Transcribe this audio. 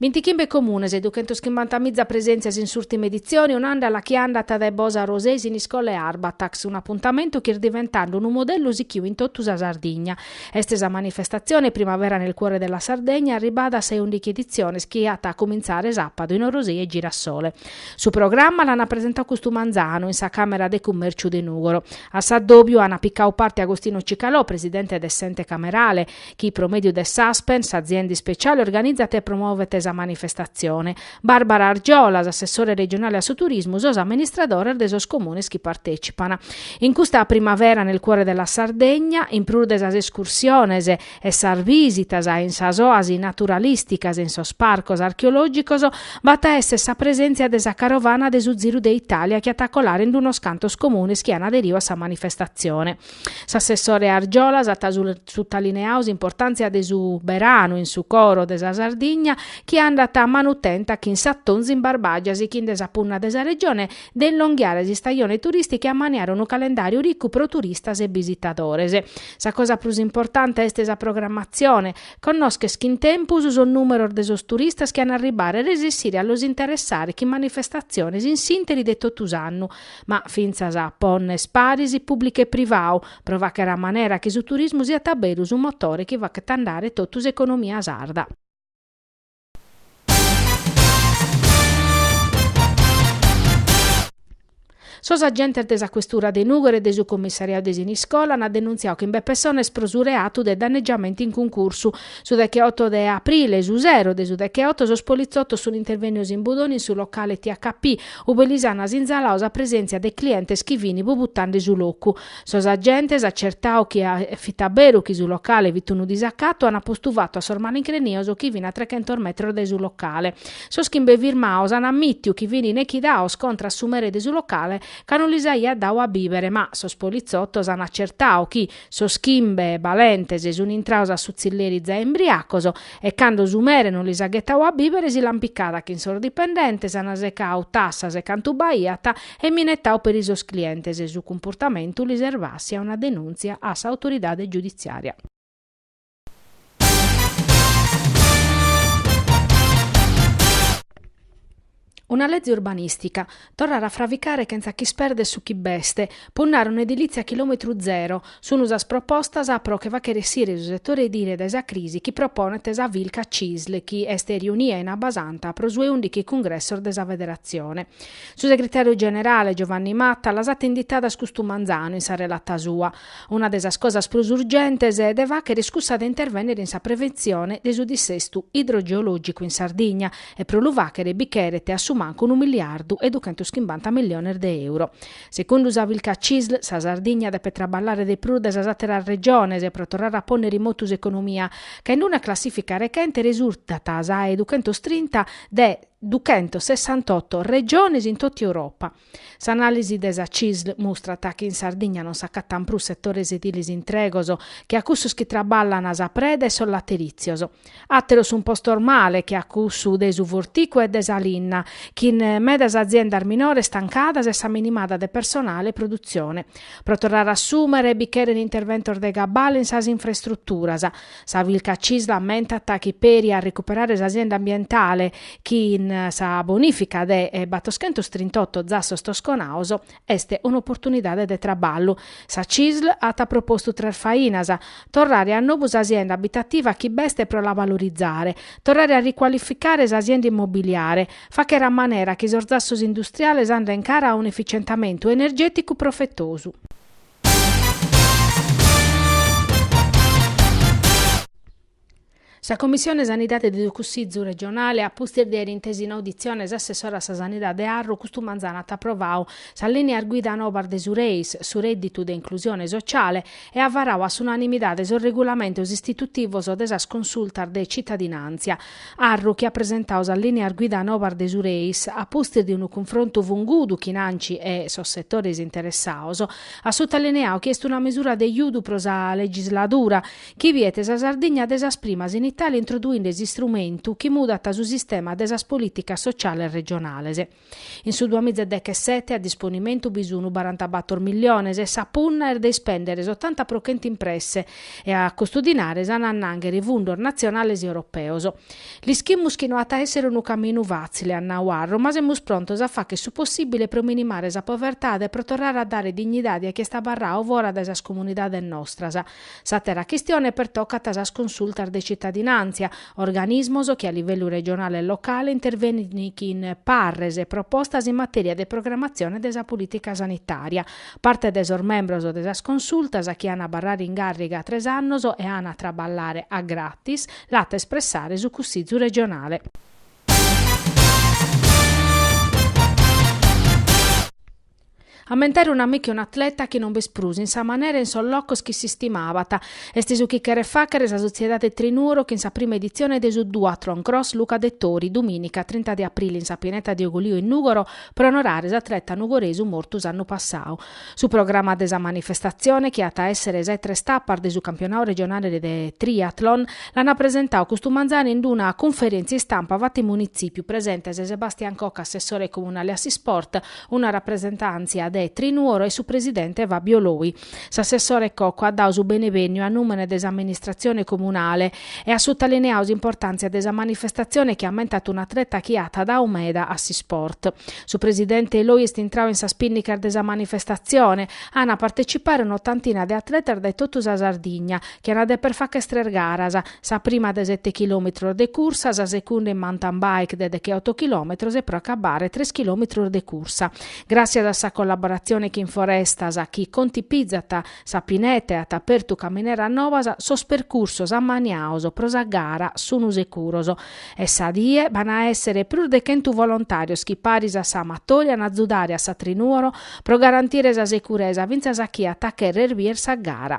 Bintichimbe comunes e duchentos chimbanta miza presèntzias in s'ùrtima editzione, un'àndala chi andat dae Bosa a Orosei, Siniscola e Arbatax, un apuntamentu chi est diventende unu modellu sichiu in totu sa Sardigna. Est sa manifestatzione Primavera nel cuore della Sardegna arribada a sa 'e undighi editziones chi at a cumintzare sàpadu in Orosei e Girasole. Su programma l'ant presentadu custu manzanu in sa Càmera de Cummèrciu de Nùgoro. A s'addòbiu ant picadu parte Agostino Cicalò, presidente de s'Ente Camerale, chi pro mèdiu de s'Aspen, s'azienda ispeciale organizat e promovet sa manifestatzione, Barbara Argiolas, assessore regionale a su turismu, sos amministradores de sos comunes chi partètzipan. In custa primavera nel cuore della Sardegna, in prus de sas escursiones e sas visitas in sas oasi naturalìsticas e in sos parcos archeològicos, b'at a èssere sa presèntzia de sa carovana de su Ziru de Itàlia chi at a colare in unos cantos comunes chi an aderiu a sa manifestatzione. S'assessore Argiolas at sutalineadu s'importàntzia de su beranu in su coro de sa Sardigna chi andat a manu tenta chin s'atonzu in Barbàgia sighinde a sa punna de sa Regione de inlonghiare s'istajone turìstica e a maniare unu calendàriu ricu pro turistas e bisitadores. Sa cosa prus importante est sa programmatzione. Connòschere chin tempus sos nùmeros de sos turistas chi an a arribbare e resessire a los interessare chin manifestatziones in s'ìnteri de totu s'annu. ma fintzas pònnere paris, pùblicu e privadu, pro fàghere a manera chi su turismu siat a beru su motore chi faghet andare totu s'economia sarda. Sos agentes de sa questura de Nùgoro e de su commissariadu de Siniscola ant denuntziadu chimbe pessones pro su reatu de danneggiamento in cuncursu. Su deghe oto de aprile, su sero de su deghe oto, sos politzotos sunt intervènnidos in Budoni in su locale THP, Ube lis ana sinzaladu sa presèntzia de clientes chi fin abbolotande su locu. Sos agentes, acertadu chi fit a beru chi su locale fit unu disacatu, ana postu fatu a sos malincrenios chi fin a trechentos metros dae su locale. Sos chimbe firmados ana ammitiu chi fini nechidados contra a su mere de su locale ca no lis aiat dadu a bibere ma sos polizottos ana acertadu chi sos chimbe balentes suni intrados a su zilleri zae imbriacos E cando su mere non lis at ghetadu a bìbere si l'ant picada chin sos dipendentes, ant secadu tassas e cantu b'aiat e minetadu peri sos clientes e su cumportamentu lis est bàssiu una denùntzia a s'autoridade giuditzìaria. Una lezi urbanìstica, torrare a fraficare chentza ch'ispèrdere su chi b'est, punnare a un'edilìtzia a chilòmetru zero, sunt sas propostas pro che fàghere essire su setore edile dae sa crisi chi proponet sa Filca Cisl chi est riunia in Abbasanta pro su 'e ùndighi cungressos de sa Federatzione. Su segretàriu generale Giovanni Matta las at inditadas custu manzanu in sa relata sua. Una de sas cosas prus urgentes de fàghere est cussa de intervènnere in sa preventzione de su dissestu idrogeològicu in Sardigna e pro lu fàghere bi cheret a su mancu unu miliardu e duchentos chimbanta milliones de euros. Segundu sa Filca Cisl sa Sardigna depet traballare de prus de sas àteras Regiones pro torrare a pònnere in motu s'economia, ca in una classìfica rechente resurtat sa 'e duchentos trinta de duchentos sessantotto Regiones in totu Europa. S'anàlisi de sa CISL mustrat chi in Sardigna non s'acatan prus setores edilis intregos che a cussos chi traballan sa preda e sos laterìtzios. Àteros sunt postos male che a cussu de su forticu e de sa linna, chin medas aziendas minores tancadas e sa minimada de personale e produtzione. Pro torrare a assùmere bi cheren interventos de cabale in sas infraestruturas. Sa Filca Cisl ammentat chi peri a recuperare sa sienda ambientale chin sa bonìfica de battoschentos trintotto zassos tosconaos est un'oportunidade de traballu. Sa Cisl at propostu tres fainas, torrare a nobu sa sienda abitativa chi b'est pro la valorizare, torrare a ricualificare sa sienda immobiliare, fàghere a manera chi sos zassos industriales anden cara a un'efficientamentu energèticu profetosu. Sa Commissione Sanidade de su Cussìgiu regionale a pustis de àere intesu in auditzione s'assessore a sa Sanidade Arru custu manzanu at aprovau sas lìneas guida nobas de su REIS, su Rèdditu de Inclusione Sociale, e at varau a s'unanimidade sos regulamentos istitutivos de sas consultas de tzitadinàntzia. Arru chi at presentau sas lìneas guida nobas de su Reis, a pustis de unu cunfrontu fungudu chin Anci e sos setores interessaos, at sutalineau chi est una misura de judu pro sa legisladura, chi biet sa Sardigna de sas primas in Itàlia a introduire s'istrumentu chi mudat su sistema de sas polìticas sociales regionales. In su duamiza e dechesete a disponimentu bi sunu barantabàtoro milliones e sa punna est de ispèndere s'otanta pro chentu impresse e a custu dinare s'an a annànghere fundos natzionales e europeos. L'ischimus chi no at a èssere unu caminu fàtzile, at nau Arru, ma semus prontos a fàghere su possìbile pro minimare sa povertade e pro torrare a dare dignidade a chie est abarrau fora dae sas comunidades nostras, S'àtera chistione pertocat sas consultas de citadinàntzia, organismos chi a livellu regionale e locale intervenin chin parres e propostas in matèria de programatzione de sa polìtica sanitària. Parte de sos membros de sas consultas chi an a abarrare in càrriga tres annos e an a traballare a gratis l'at a espressare su Cussizu regionale. Ammentare un'amicu e un'atleta chi non b'est prus in sa manera e in sos locos chi s'istimabat, est su chi cheret fàghere sa sotziedade Trinuoro chin sa prima editzione de su Duathlon Cross Luca Dettori, dumìnica trinta de aprili in sa pineta de Ugolìo in Nùgoro pro onorare s'atleta nugoresu mortu s'annu passadu. Su programa de sa manifestatzione, chi at a èssere sa 'e tres tapas de su campionadu regionale de Triathlon, l'ant presentadu custu manzanu in una cunferèntzia istampa fata in Munitzìpiu, presentes Sebastian Cocco assessore comunale a s'Isport, Una rapresentàntzia de Trinuoro e su presidente Fabio Loi. S'assessore Cocco at dadu su benebènniu a nùmene de s'amministratzione comunale e at sutalineadu s'importàntzia de sa manifestatzione chi ammentat un'atleta chi at dadu meda a s'isport. Su presidente Loi est intradu in sas pìnnicas de sa manifestatzione. An a partecipare un'otantina de atletas dae totu sa Sardigna, chi an a deper fàghere tres garas, Sa prima de sete chilòmetros de cursa, sa segunda in mountain bike de deche oto chilòmetros e pro acabare tres chilòmetros de cursa. Gràtzias a sa collaboratzione chin Forestas, chi contipizat sa pineta e at apertu camineras nobas, sos percursos ammaniados pro sa gara sun securos. E sa die b'an a èssere prus de chentu volontàrios chi paris a sa Amatori an a azudare a sa Trinuoro pro garantire sa securesa fintzas a chie at a chèrrere bider sa gara.